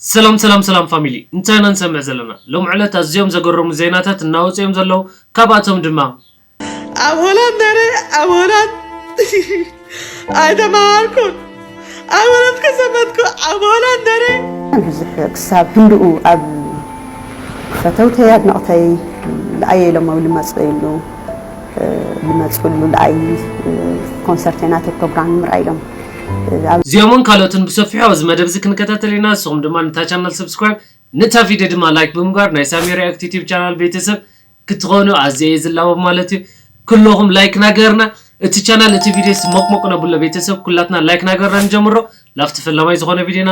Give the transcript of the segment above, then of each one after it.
ሰላም ሰላም ሰላም ፋሚሊ እንታይ ኢና ንሰምዕ ዘለና ሎሚ ዕለት ኣዝዮም ዘገረሙ ዜናታት እናወጹ እዮም ዘለዉ ካብኣቶም ድማ። ኣብ ሆላንድ ነይረ ኣብ ሆላንድ ኣይተማሃርኩን ኣብ ሆላንድ ከሰመትኩ ኣብ ሆላንድ ነይረ። ብዙሕ ክሳብ ህንድኡ ኣብ ፈተውተይ ኣድነቕተይ ልኣየይ ኢሎም ኣብ ልመጸይሉ። ልመጹ ሉልኣይ ኮንሰርተይ ናተይ ፕሮግራም ንምርኣይ ኢሎም እዚኦምን ካልኦትን ብሰፊሑ ኣብዚ መደብዚ ክንከታተል ኢና ንስኹም ድማ ንታ ቻናል ሰብስክራይብ ንታ ቪድዮ ድማ ላይክ ብምግባር ናይ ሳሚ ሪኣክት ዩቲብ ቻናል ቤተሰብ ክትኾኑ ኣዝየ እየ ዝላቦ ማለት እዩ ኩሎኹም ላይክ ናገርና እቲ ቻናል እቲ ቪድዮስ ሞቅሞቅ ነብሎ ቤተሰብ ኩላትና ላይክ ናገርና ንጀምሮ ላፍቲ ፈላማይ ዝኾነ ቪድዮና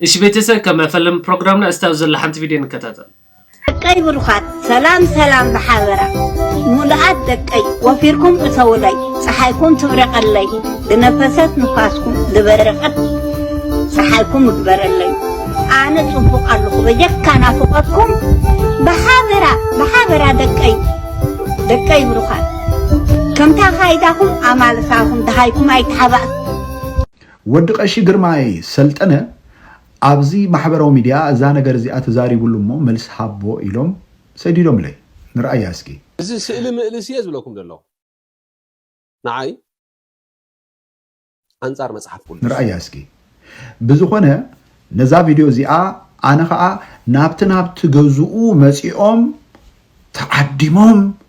እሺ ቤተሰብ ከም መፈለሚ ፕሮግራምና እስቲ ኣብዚ ዘላ ሓንቲ ቪድዮ ንከታተል። ደቀይ ብሩኻት ሰላም ሰላም ብሓበራ ሙሉኣት ደቀይ ወፊርኩም እተውለይ ፀሓይኩም ትብረቀለይ ዝነፈሰት ንፋስኩም ዝበረቀት ፀሓይኩም እግበረለይ ኣነ ፅቡቅ ኣለኹ በጀካ ናፍቆትኩም ብሓበራ ብሓበራ ደቀይ ደቀይ ብሩኻት ከምታ ካይዳኹም ኣማልሳኹም ደሃይኩም ኣይተሓባእ ወዲ ቀሺ ግርማይ ሰልጠነ ኣብዚ ማሕበራዊ ሚድያ እዛ ነገር እዚኣ ተዛሪብሉ እሞ መልሲ ሃቦ ኢሎም ሰዲዶምለይ ንርኣያ እስኪ። እዚ ስእሊ ምእልስ እየ ዝብለኩም ዘለኹ ንዓይ ኣንጻር መጽሓፍ ቁዱስ። ንርኣያ እስኪ። ብዝኾነ ነዛ ቪድዮ እዚኣ ኣነ ኸኣ ናብቲ ናብቲ ገዝኡ መጺኦም ተዓዲሞም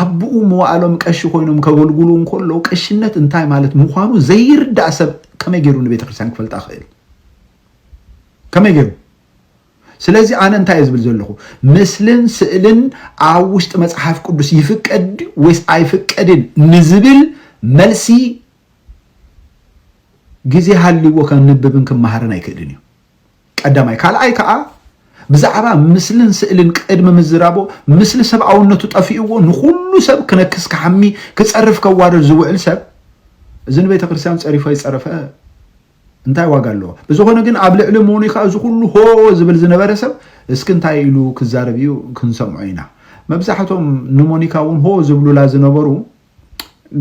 ኣቡኡ መዋእሎም ቀሺ ኮይኖም ከገልጉሉ እንከለዉ ቀሽነት እንታይ ማለት ምዃኑ ዘይርዳእ ሰብ ከመይ ገይሩ ንቤተክርስትያን ክፈልጣ ክእል ከመይ ገይሩ ስለዚ ኣነ እንታይ ዝብል ዘለኹ ምስልን ስእልን ኣብ ውሽጢ መጽሓፍ ቅዱስ ይፍቀድ ወይስ ኣይፍቀድን ንዝብል መልሲ ግዜ ሃልዎ ከንብብን ክመሃርን ኣይክእልን እዩ ቀዳማይ ካልኣይ ከኣ ብዛዕባ ምስልን ስእልን ቅድሚ ምዝራቦ ምስሊ ሰብኣውነቱ ጠፊእዎ ንኹሉ ሰብ ክነክስ ክሓሚ ክጸርፍ ከዋርድ ዝውዕል ሰብ እዚ ንቤተክርስትያን ጸሪፉ ኣይጸረፈ እንታይ ዋጋ ኣለዎ ብዝኾነ ግን ኣብ ልዕሊ ሞኒካ እዚ ኩሉ ሆ ዝብል ዝነበረ ሰብ እስኪ እንታይ ኢሉ ክዛረብ እዩ ክንሰምዖ ኢና መብዛሕቶም ንሞኒካ እውን ሆ ዝብሉላ ዝነበሩ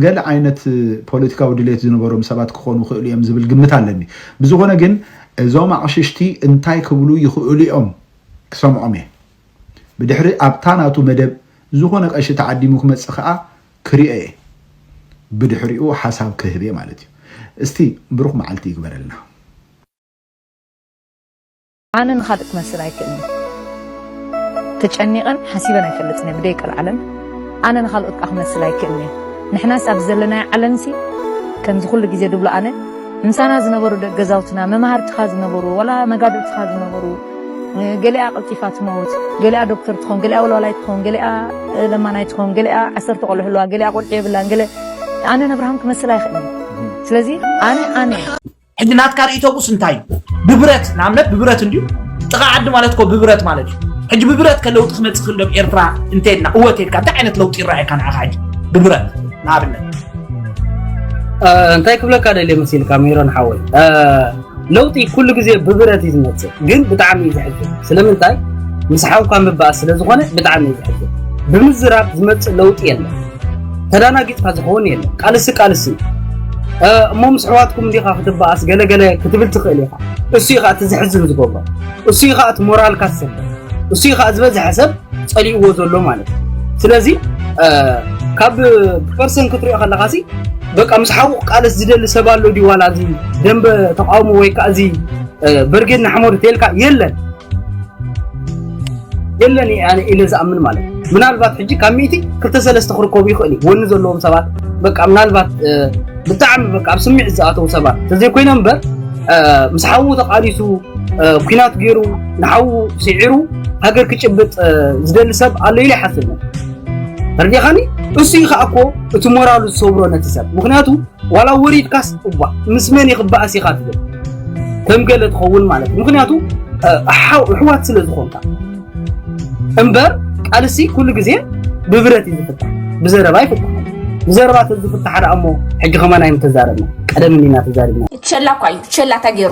ገለ ዓይነት ፖለቲካዊ ድሌት ዝነበሮም ሰባት ክኾኑ ይኽእሉ እዮም ዝብል ግምት ኣለኒ። ብዝኾነ ግን እዞም ኣቕሽሽቲ እንታይ ክብሉ ይኽእሉ እዮም ክሰምዖም እየ። ብድሕሪ ኣብታ ናቱ መደብ ዝኾነ ቀሺ ተዓዲሙ ክመጽእ ከኣ ክሪኦ እየ። ብድሕሪኡ ሓሳብ ክህብ እየ ማለት እዩ። እስቲ ብሩኽ መዓልቲ ይግበረልና። ኣነ ንኻልእ ክመስል ኣይክእልን እየ። ተጨኒቐን ሓሲበን ኣይፈልጥን እየ ብደይ ቀልዓለን። ኣነ ንኻልኦት ከኣ ክመስል ኣይክእልን እየ። ንሕናስ ኣብዚ ዘለናዮ ዓለምሲ ከምዚ ኩሉ ግዜ ድብሎ ኣነ ምሳና ዝነበሩ ደቂ ገዛውትና መማህርትኻ ዝነበሩ ዋላ መጋድልትኻ ዝነበሩ ገሊኣ ቀልጢፋ ትመውት፣ ገሊኣ ዶክተር ትኾን፣ ገሊኣ ወልዋላይ ትኾን፣ ገሊኣ ለማናይ ትኾን፣ ገሊኣ ዓሰርተ ቆልዑ ኣለዋ፣ ገሊኣ ቆልዑ የብላን፣ ገለ ኣነ ነብርሃም ክመስል ኣይክእልን እየ። ስለዚ ኣነ ኣነ እየ። ሕጂ ናትካ ርእቶቡስ እንታይ እዩ ብብረት ንኣብነት ብብረት እንድዩ ጥቓ ዓዲ ማለት ኮ ብብረት ማለት እዩ ሕጂ ብብረት ከለውጢ ክመፅእ ክእል ዶብ ኤርትራ እንተልና እወ ተልካ እንታይ ዓይነት ለውጢ ይረኣየካ ንዓኻ ሕጂ ብብረት ንኣብነት እንታይ ክብለካ ደልየ መሲልካ ሜሮን ሓወይ ለውጢ ኩሉ ግዜ ብብረት እዩ ዝመፅእ ግን ብጣዕሚ እዩ ዝሕግር ስለምንታይ ምስ ሓውካ ምባእ ስለ ዝኾነ ብጣዕሚ እዩ ዝሕግር ብምዝራብ ዝመፅእ ለውጢ የለን ተዳናጊጽካ ዝኸውን የለን ቃልሲ ቃልሲ እዩ እሞ ምስ ኣሕዋትኩም እንዲኻ ክትበኣስ ገለገለ ክትብል ትኽእል ኢኻ እሱ እዩ ከዓ እቲ ዘሕዝን ዝገብሮ እሱ እዩ ከዓ እቲ ሞራልካ ዝሰብር እሱ እዩ ከዓ ዝበዝሐ ሰብ ጸሊእዎ ዘሎ ማለት እዩ ስለዚ ካብ ፐርሰን ክትሪኦ ከለካ ሲ በቃ ምስ ሓቡቕ ቃልስ ዝደሊ ሰብ ኣሎ ድዩ ዋላ እዚ ደንበ ተቃውሞ ወይ ከዓ እዚ ብርጌድ ንሓመዱ ተልካ የለን የለን ኣነ ኢለ ዝኣምን ማለት እዩ ምናልባት ሕጂ ካብ ሚእቲ ክልተ ሰለስተ ክርከቡ ይኽእል እዩ ወኒ ዘለዎም ሰባት በቃ ምናልባት ብጣዕሚ በቃ ኣብ ስምዒት ዝኣተው ሰባት ተዘይኮይኖም እምበር ምስ ሓዉ ተቃሊሱ ኩናት ገይሩ ንሓዉ ስዒሩ ሃገር ክጭብጥ ዝደሊ ሰብ ኣሎ ኢለ ይሓስብ ተርዲኻኒ እሱ እዩ ከዓ እኮ እቲ ሞራሉ ዝሰብሮ ነቲ ሰብ ምክንያቱ ዋላ ወሪድካስ እባ ምስ መን እየ ክበኣስ ኢኻ ትብል ከም ገለ ትኸውን ማለት እዩ ምክንያቱ ኣሕዋት ስለ ዝኾንካ እምበር ቃልሲ ኩሉ ግዜ ብብረት እዩ ዝፍታሕ ብዘረባ ይፍታሕ ብዘረባ ተዝፍታሕ ደኣ እሞ ሕጂ ከማን ኣይምተዛረብና ቀደም እንዲና ተዛሪብና ሸላ እኳ እዩ ሸላ ተገይሩ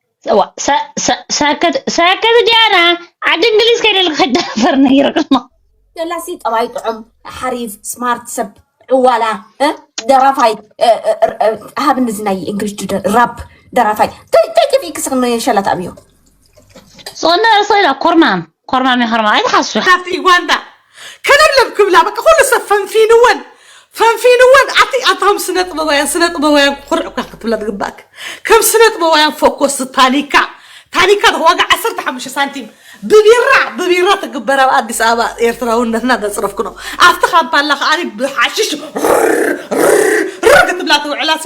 እዋ ሰከት ዲያና ዓዲ እንግሊዝ ከይደልክ ከይዳፈር ነይርክሞ ደላሲ ጠባይ ጥዑም ሓሪፍ ስማርት ሰብ ዕዋላ ደራፋይ ሃብ እዚ ናይ እንግሊሽ ራፕ ደራፋይ እንታይ ጠፊእ ክስክነ ሸላት ኣብዮ ዝኾነ ርእሰ ኢላ ኮርማም ኮርማም የኸርማ ኣይትሓሱ ካብቲ ዩጋንዳ ከለብለብ ክብላ በቃ ኩሉ ሰብ ፈንፊንወን ፈንፊንወን ኣቲ ኣታ ከም ስነ ጥበባውያን ስነ ጥበባውያን ኩርዕ እኳ ክትብላ ዝግባእክ ከም ስነ ጥበባውያን ፎኮስ ታኒካ ታኒካ ዶ ዋጋ 15 ሳንቲም ብቢራ ብቢራ ትግበር ኣብ ኣዲስ ኣበባ ኤርትራውነትና ዘፅረፍክኖ ኣብቲ ካምፓላ ከዓኒ ብሓሽሽ ር ክትብላ ትውዕላሲ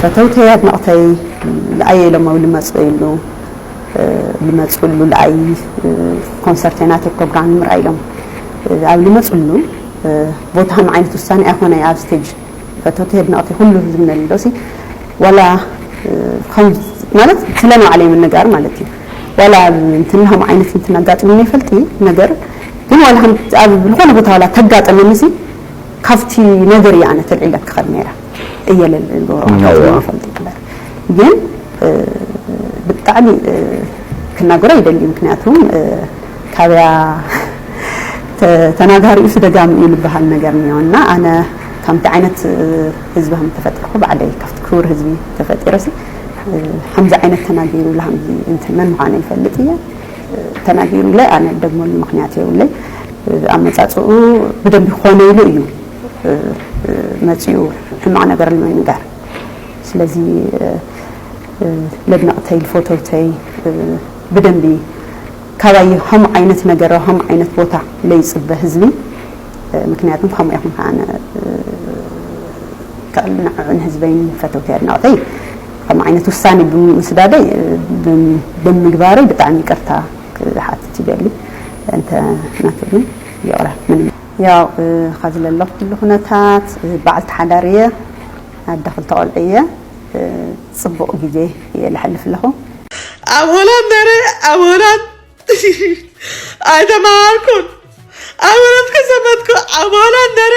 ፈተውተይ ኣድነቅተይ ልኣየ ኢሎም ኣብ ልመፅእሉ ልመፅእሉ ልኣይ ኮንሰርተይ ናተይ ፕሮግራም ንምርኣይ ኢሎም ኣብ ልመፅሉ ቦታ ከም ዓይነት ውሳኔ ኣይኮነይ ኣብ ስቴጅ ፈተውተይ ኣድነቅተይ ኩሉ ህዝቢ ነልዶሲ ዋላ ማለት ስለ ንባዕለይ ምንጋር ማለት እዩ ዋላ እንትና ከም ዓይነት እንትና ኣጋጢሙኒ ይፈልጥ ነገር ግን ዋላ ኣብ ዝኾነ ቦታ ዋላ ተጋጠመኒ ሲ ካብቲ ነገር እየ ኣነ ተልዒለ ክኸድ ነይረ እየ ልዕሉ ኣጋጢሙኒ ይፈልጥ ይንበር ግን ብጣዕሚ ክናገሮ ይደሊ ምክንያቱ ካብያ ተናጋሪኡ ስደጋም እዩ ልበሃል ነገር እኒኦ እና ኣነ ከምቲ ዓይነት ህዝቢ ከም ተፈጢርኩ ባዕለይ ካብቲ ክቡር ህዝቢ ተፈጢረሲ ከምዚ ዓይነት ተናጊሩ ላሃምዚ እንትን መን ምዃነ ይፈልጥ እየ ተናጊሩለይ ኣነ ደግመሉ ምክንያት የብለይ ኣመጻጽኡ ብደንቢ ክኾነ ኢሉ እዩ መጺኡ ሕማቕ ነገር ንምንጋር ስለዚ ለድነቕተይ ልፎተውተይ ብደንቢ ካባይ ከም ዓይነት ነገር ከም ዓይነት ቦታ ለይፅበ ህዝቢ ምክንያቱም ከምኡ ይኹን ከዓነ ከዕልናዕዕን ህዝበይን ፈተውተይ ኣድናቕተይ ከምኡ ዓይነት ውሳኔ ብምስዳደይ ብምግባረይ ብጣዕሚ ይቅርታ ክሓትት ይደሊ እንተ ናቱ ግን ይቅረ ምንም ያው ኸዚ ለለኹሉ ኹነታት በዓልቲ ሓዳር እየ ኣደ ኽልተ ቆልዑ እየ ጽቡቅ ግዜ እየ ለሐልፍ ለኹ። ኣብ ሆላንድ ነይረ ኣብ ሆላንድ ኣይተማሃርኩን ኣብ ሆላንድ ከይዘመትኩ ኣብ ሆላንድ ነይረ።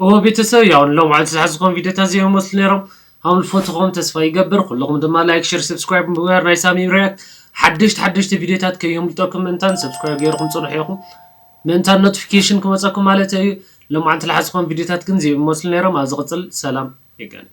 እወ ቤተሰብ ያው ሎምዓንቲ ዝሓዝኹም ቪድዮታት እዚኦም ይመስሉ ነይሮም ሃውል ፎቶኹም ተስፋ ይገብር ኩልኹም ድማ ላይክ ሸር ሰብስክራይብ ምግባር ናይ ሳሚ ሪያክት ሓደሽቲ ሓደሽቲ ቪድዮታት ከየምልጠኩም ምእንታን ሰብስክራይብ ገይርኩም ፅንሑ ኢኹም ምእንታን ኖቲፊኬሽን ክመፀኩም ማለት እዩ ሎምዓንቲ ዝሓዝኹም ቪድዮታት ግን እዚኦም ይመስሉ ነይሮም ኣብ ዝቕፅል ሰላም ይገናኝ